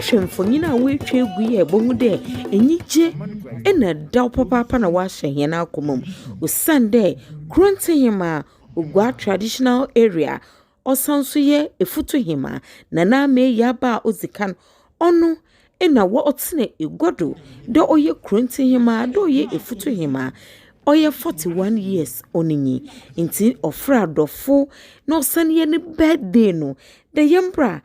wohwɛ mfonyin a woetwa egu yi a ibohu dɛ enyigye na ɛdaw papaapa na wɔahyɛ hɛn akoma mu osiandɛ Krɔntsehemaa Oguaa traditional area. Ɔsan nso yɛ Efutuhemaa Nana Ama Ayiaa ba a ɔdzi kan. Ɔno na ɔtsena egua do dɛ ɔyɛ Kurontsihemaa, dɛ ɔyɛ Efutuhemaa. Ɔyɛ forty one years ɔno nye. Ntsi ɔfrɛ adɔfo na ɔsan yɛ ne birthday no dɛ yɛmbra.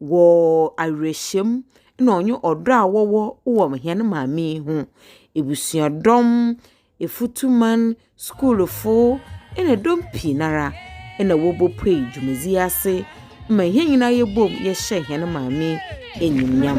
wɔ awerɛhyɛm na ɔnye ɔdɔ a wɔwɔ wɔ hɛn maame yi ho. Ebusuadɔm, efutuman, skuulfo na dɔm pii no ara na wɔbopue dwumadzi yi ase ma hɛn nyina yɛbɔ mu yɛhyɛ hɛn maame yi enyimnyam.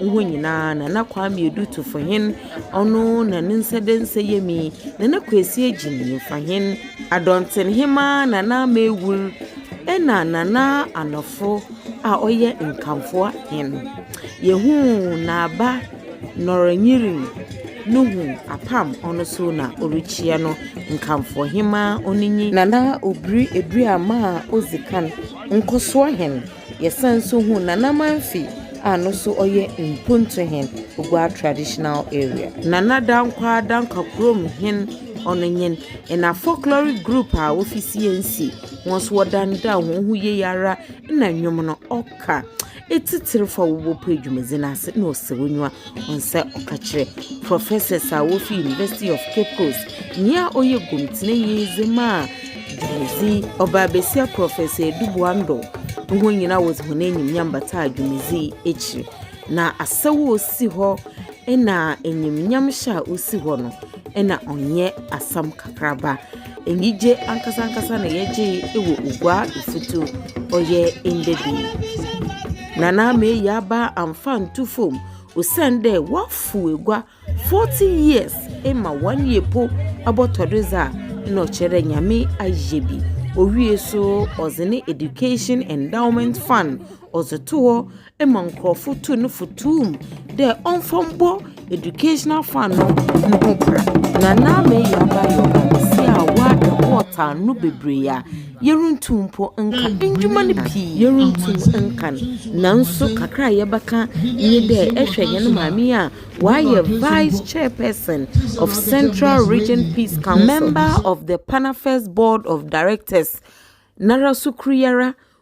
Hɔ nyinaa na na Kwame Adutofo hen, ɔno na ne nsa da nsa yam yi, Nana Kwesi Agyinifa hen, Adɔnten hemaa Nana Ama Awur, ɛna Nana Anɔfo a ɔyɛ Nkamfoa hen. Yɛhuu n'aba Nɔrɔnyirim no hu apam ɔno nso na ɔrekyia no, Nkamfoa hemaa ɔno nyi. Nana Obiri Aduaman a Odzi Kan, Nkɔsoɔ hen. Yɛsan nso hu Nana Amanfi a no nso ɔyɛ Mpontu hen, Oguaa traditional area. Nana Dankwaa Dankwa kurom hen, ɔno nye Ena folkloric group a wofi Siensi. Wɔn nso wɔda no dɛ a wɔn ho ye ara na nnwom no ɔka etsitsir fa wɔ bɔpɔ edwumadzi no ase na ɔsɛ w'enyiwa. Ɔnsɛ ɔka kyerɛ professors a wofi University of Cape Coast, nyia ɔyɛ gomtsenanyi dze maa dwumadzi, ɔbaa basia Professor Eduboa Ndor, no hɔn nyina wɔdze hɔn enyimnyam bataa dwumadzi yi ekyir, na asaw a osi hɔ na enyimnyam hyɛ a osi hɔ no, na ɔnnyɛ asɛm kakraba. Enyigye ankasa ankasa na yɛgyee wɔ Oguaa Efutu ɔyɛ ndɛ da yi. Nana Ama Eyi Aba amfa nnto fam osiandɛ ɔafow egua forty years ma one year mpo abɔtɔ do dze a, nna ɔkyerɛ dɛ Nyame ayɛ bi. Owiei so ɔdze ne Education Endowment Fund ɔdze too hɔ. ma nkorɔfo too no fotoomu dɛ ɔmfa mbɔ educational fan no no ho bra, na n'ano yɛ abayɔ tsia a wɔada bɔɔt ano beberee a yerunntum mpo nnkã ndwuma no pii, yerunntum nnkã no. Naaso kakra a yɛbɛkã nye dɛ ehwɛ hɛn maame yi a ɔayɛ vice chairperson of Central Region Peace Council, member of the Panafest board of directors, noara so kor yi ara,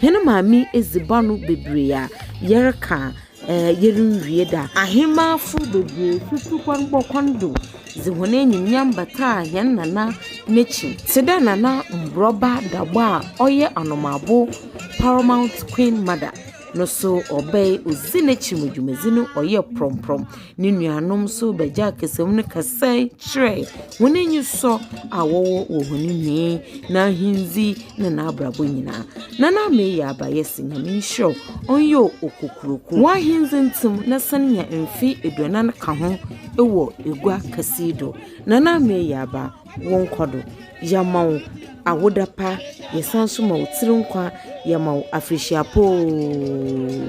Hɛn maame edziban no beberee a yɛreka a, ɛɛ yerunnwie da. Ahemafo beberee so tu kwan bɔ kwan do dze hɔn enyimnyam bataa hɛn Nana n'ekyir, tse dɛ Nana Mborba Dagbɔ a ɔyɛ Anomabo Paramount Queen Mother no so ɔbae odzii n'ekyir ma dwumadzi no ɔyɛɛ prɔmprɔm. No nuanom nso bɛgyaa kasamu no kasae kyerɛɛ hɔn enyisɔ a wɔwɔ wɔ hɔn nyɛe, n'ahendzi na n'abrabɔ nyina. Na n'amee yɛ abayɛse, Nyame nhyira wo, ɔnnyɛ o, Okokuroko. W'ahendzi ntsim na san nya mfe eduanan ka ho wɔ egua kɛse yi do. Na n'amee yɛ aba, wo nkɔ do. Yɛma wo awoda pa, yɛsan so ma wo tsir nkwa, yɛma wo afrehyia pa oo.